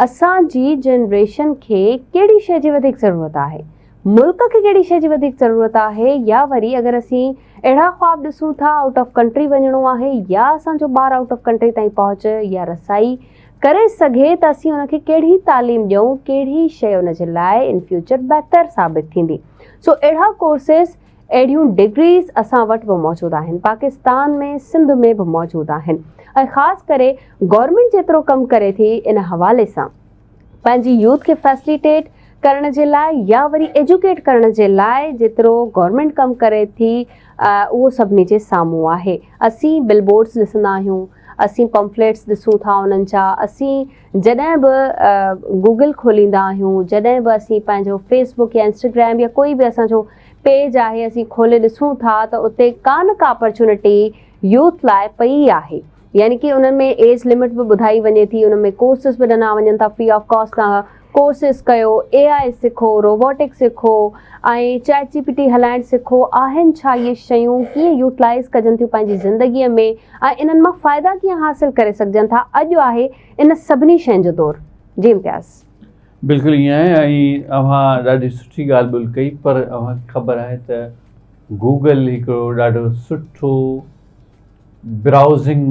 اسان جي جنريشن کي ڪهڙي شيء جي وڌيڪ ضرورت آهي، ملڪ کي ڪهڙي شيء جي وڌيڪ ضرورت آهي يا وري اگر اسين اهڙا خواب ڏسون ٿا آئوٽ آف ڪنٽري وڃڻو آهي يا اسان جو ٻار آئوٽ آف ڪنٽري تائين پهچ يا رسائي ڪري سگهي ته اسين ان کي ڪهڙي تعليم ڏيون ڪهڙي شيء ان جي لاء ان فيوچر بهتر ثابت ٿيندي سو اهڙا ڪورسز اهڙيون ڊگريز اسان وٽ به موجود آهن پاڪستان ۾ سنڌ ۾ به موجود آهن ۽ خاص ڪري گورنمينٽ جيترو ڪم ڪري ٿي ان حوالي سان پنهنجي يوٿ کي فيسليٽيٽ ڪرڻ جي لاء يا وري ايجوڪيٽ ڪرڻ جي لاء جيترو گورنمينٽ ڪم ڪري ٿي اهو سڀني جي سامهون آهي اسين بل بورڊز ڏسندا آهيون اسين پمفليٽس ڏسون ٿا انهن جا اسين جڏهن به گوگل کوليندا آهيون جڏهن به اسين پنهنجو فيسبڪ يا انسٽاگرام يا ڪوئي به اسانجو پيج آهي اسين کولي ڏسون ٿا ته اتي ڪا نه ڪا اپرچونٽي يوٿ لاء پئي آهي يعني ڪي انهن ۾ ايج لمٽ به ٻڌائي وڃي ٿي انهن ۾ ڪورسز به ڏنا وڃن ٿا فري آف ڪاسٽ تان ڪورسز ڪيو اي آء سکو روبوٽڪ سکو ۽ چيٽ جي پي ٽي هلائڻ سکو آهن ڇا اهي شيون ڪيئن يوٽلائز ڪجن ٿيون پنهنجي زندگي ۾ ۽ انهن مان فائدا ڪيئن حاصل ڪري سگهجن ٿا اڄ آهي ان سڀني شين جو دور جي امتياز بلڪل ائين آهي ۽ اوهان ڏاڍي سٺي ڳالهه ٻولهه ڪئي پر اوهان کي خبر آهي ته گوگل هڪڙو ڏاڍو سٺو براوزنگ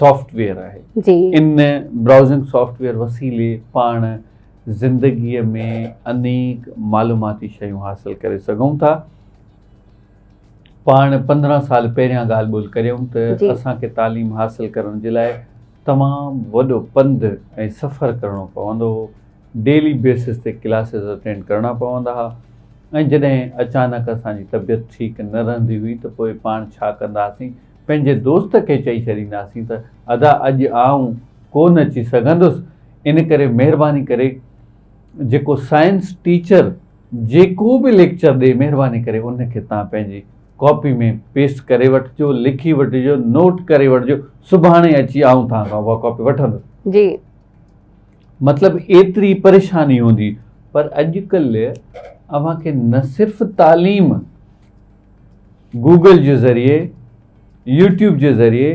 سافٽ ويئر آهي جي ان براوزنگ سافٽ ويئر وسيلي پاڻ زندگي ۾ انيڪ معلوماتي شيون حاصل ڪري سگهون ٿا پاڻ پندرهن سال پهريان ڳالهه ٻولهه ڪريون ته اسان کي تعليم حاصل ڪرڻ جي لاء تمام وڏو پنڌ ۽ سفر ڪرڻو پوندو هو، ڊيلي بيسز تي ڪلاسز اٽينڊ ڪرڻا پوندا ها ۽ جڏهن اچانڪ اسان جي طبيعت ٺيڪ نه رهندي هئي ته پوء پاڻ ڇا ڪنداسين، پنهنجي دوست کي چئي ڇڏينداسين ته ادا اڄ آئون ڪو نه اچي سگهندس ان ڪري مهرباني ڪري جيڪو سائنس ٽيچر جيڪو به ليڪچر ڏي مهرباني ڪري ان کي توهان پنهنجي ڪاپي ۾ پيسٽ ڪري وٺجو، لکي وٺجو، نوٽ ڪري وٺجو، سڀاڻي اچي آئون توهان کان اها ڪاپي وٺندس. جي. مطلب ايتري پريشاني هوندي پر اڄڪلهه اوهان کي نه صرف تعليم گوگل جي ذريعي، يوٽيوب جي ذريعي،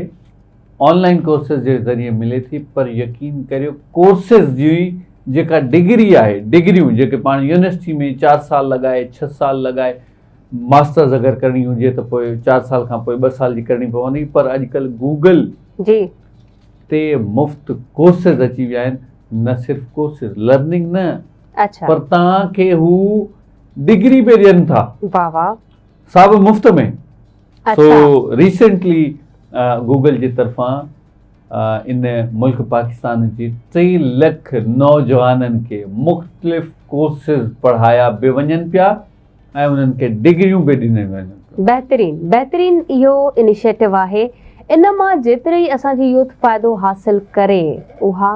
آن لائين ڪورسز جي ذريعي ملي ٿي پر يقين ڪريو ڪورسز جي جيڪا ڊگري آهي، ڊگريون جيڪي پاڻ يونيورسٽي ۾ چار سال لڳائي، ڇهه سال لڳائي، ماسٽرز اگر ڪرڻي هجي ته پوء چار سال کان پوء ٻه سال جي ڪرڻي پوندي پر اڄڪلهه گوگل جي تي مفت ڪورسز اچي ويا آهن نه صرف ڪورسز لرننگ نه اڇا پر تان کي هو ڊگري به ڏين ٿا واھ واھ سا به مفت ۾ سو ريسنٽلي گوگل جي طرفان ان ملڪ پاڪستان جي ٽي لک نوجوانن کي مختلف ڪورسز پڙهايا به وڃن پيا ۽ انهن کي ڊگريون به ڏنيون وينديون ٿيون. بهترين بهترين اهو انيشيٽو آهي ان مان جيتري اسان جي يوٿ فائدو حاصل ڪري اها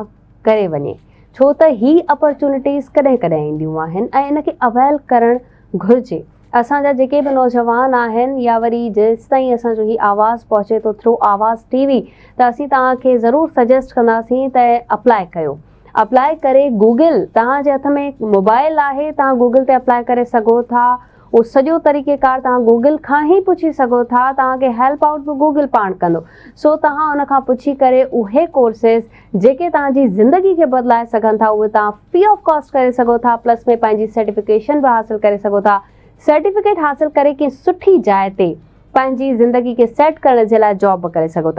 ڪري وڃي ڇو ته هي اپرچونٽيز ڪڏهن ڪڏهن اينديون آهن ۽ ان کي اويل ڪرڻ گهرجي اسان جا جيڪي به نوجوان آهن يا وري جيستائين اسان جو هي آواز پهچي ٿو ٿرو آواز ٽي وي ته اسين توهان کي ضرور سجيسٽ ڪنداسين ته اپلائي ڪيو اپلاء ڪري گوگل توهان جي هٿ ۾ موبائل آهي توهان گوگل تي اپلاء ڪري سگهو ٿا اهو سڄو طريقي ڪار توهان گوگل کان هي پڇي سگهو ٿا توهان کي هيلپ آئوٽ به گوگل پاڻ ڪندو سو توهان ان کان پڇي ڪري اهي ڪورسز جيڪي توهان جي زندگي کي بدلائي سگهن ٿا اهي توهان فري آف ڪاسٽ ڪري سگهو ٿا پلس ۾ پنهنجي سرٽيفڪيشن به حاصل ڪري سگهو ٿا سرٽيفڪيٽ حاصل ڪري ڪنهن سٺي جاء تي پنهنجي زندگي کي سيٽ ڪرڻ جي لاء جاب به ڪري سگهو ٿا